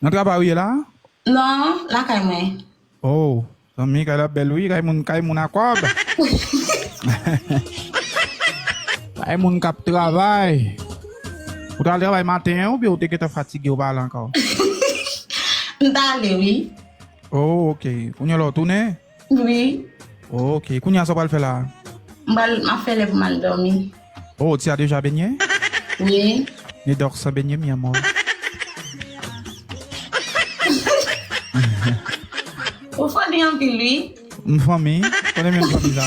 Nan travay ou ye la? Non, lakay mwen. Oh, zanmi kay la bèl wi, kay moun kay moun a kòb. Kay moun kap travay. Ou ta al travay maten an oubyen ou te gentan fatige ou pa al ankò? M ta ale wi. Oh ok, kounye la ou tounen? Wi. Ok, kounya sa w pral fè la? M pral, m ap fè lè pou m al dòmi. Oh, ti a deja benyen? Wi. Ne dòk san benyen mi amor. Ou funny anpil wi. M funny? Konnen menm funny sa.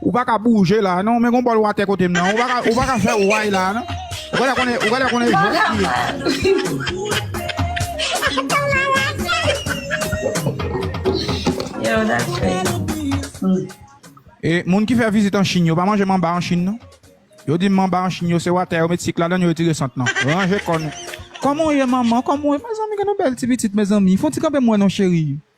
Ou pa ka bouje la non men gon bòl watè kote m nan ou pa ka fè way la non ou gèlè konnen ou gèlè konnen jwèt li ye. Yo that's crazy. E moun ki fè vizit an Chine yo pa manje manba an Chine non. Yo di manba an Chine yo se watè yo met sik ladan yo retire sant nan. Ranje kò nou. Kòman w ye manman kòman w ye mezanmi gen yon bèl ti pitit mezanmi fon ti kanpe m wè non cheri.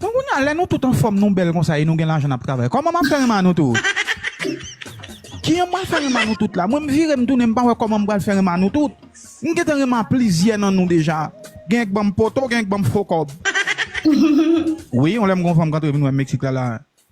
Bon kounya lè nou tout anfòm nou bèl konsa e nou gen lajan nap travay kòman map fè renmen a nou tout? Kijan mwen fè renmen a nou tout la mwen m vire m tounen m pa wè kòman m pral fè renmen a nou tout m gentan renmen a plizyè nan nou deja genyen k banm poto genyen k banm fo kòb wi yon lè m gen yon fanm k antre vin wèm meksik la la.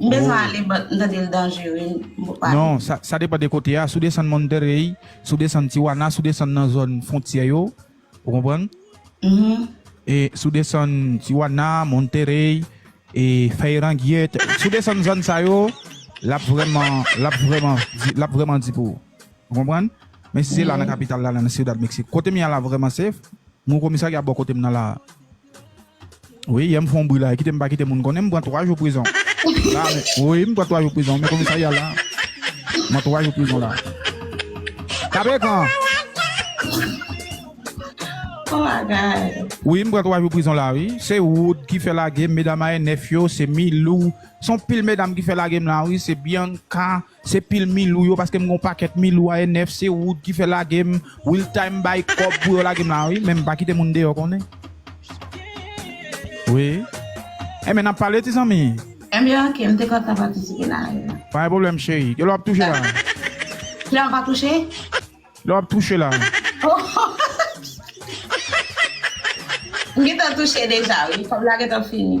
M bezwen ale but m tande l danjere m poko ale. Non, sa depan de kote a, si w desann Monterey, si w desann Tijuana, si w desann nan zòn fontyè yo, ou konprann? E si w desann Tijuana, Monterey, e Feirangyet, si w desann zòn sa yo, l ap vrèman, l ap vrèman, l ap vrèman di pou ou. Ou konprann? Men si se la nan kapital la, la nan Ciudad Mexico, kote m ye a la vrèman safe, m gen yon komisarya bò kote m nan la a. Wi yè m fon bri la kite m pa kite moun konnen m pran 3 jou prizon la men wi m pran 3 jou prizon men komisarya la m an 3 jou prizon la kape kan wi m pran 3 jou prizon la wi se wood ki fè lagem medam ayè 9 yo se milou son pil medam ki fè lagem la wi se bianca. Se pil milou yo paske m gon pakèt milou a e 9 se Wood ki fè lage m Will time bay kòb pou yo lage m la wi men m pa kite moun deyò konnen wi Enben n ap pale ti zanmi. Enben ok m te kontan patisipe nan live la. Pa gen pwoblèm cheri. Kilè w ap touche la? Kilè m va touche? Lè w ap touche la. M gentan touche deja wi kòb la gentan fini.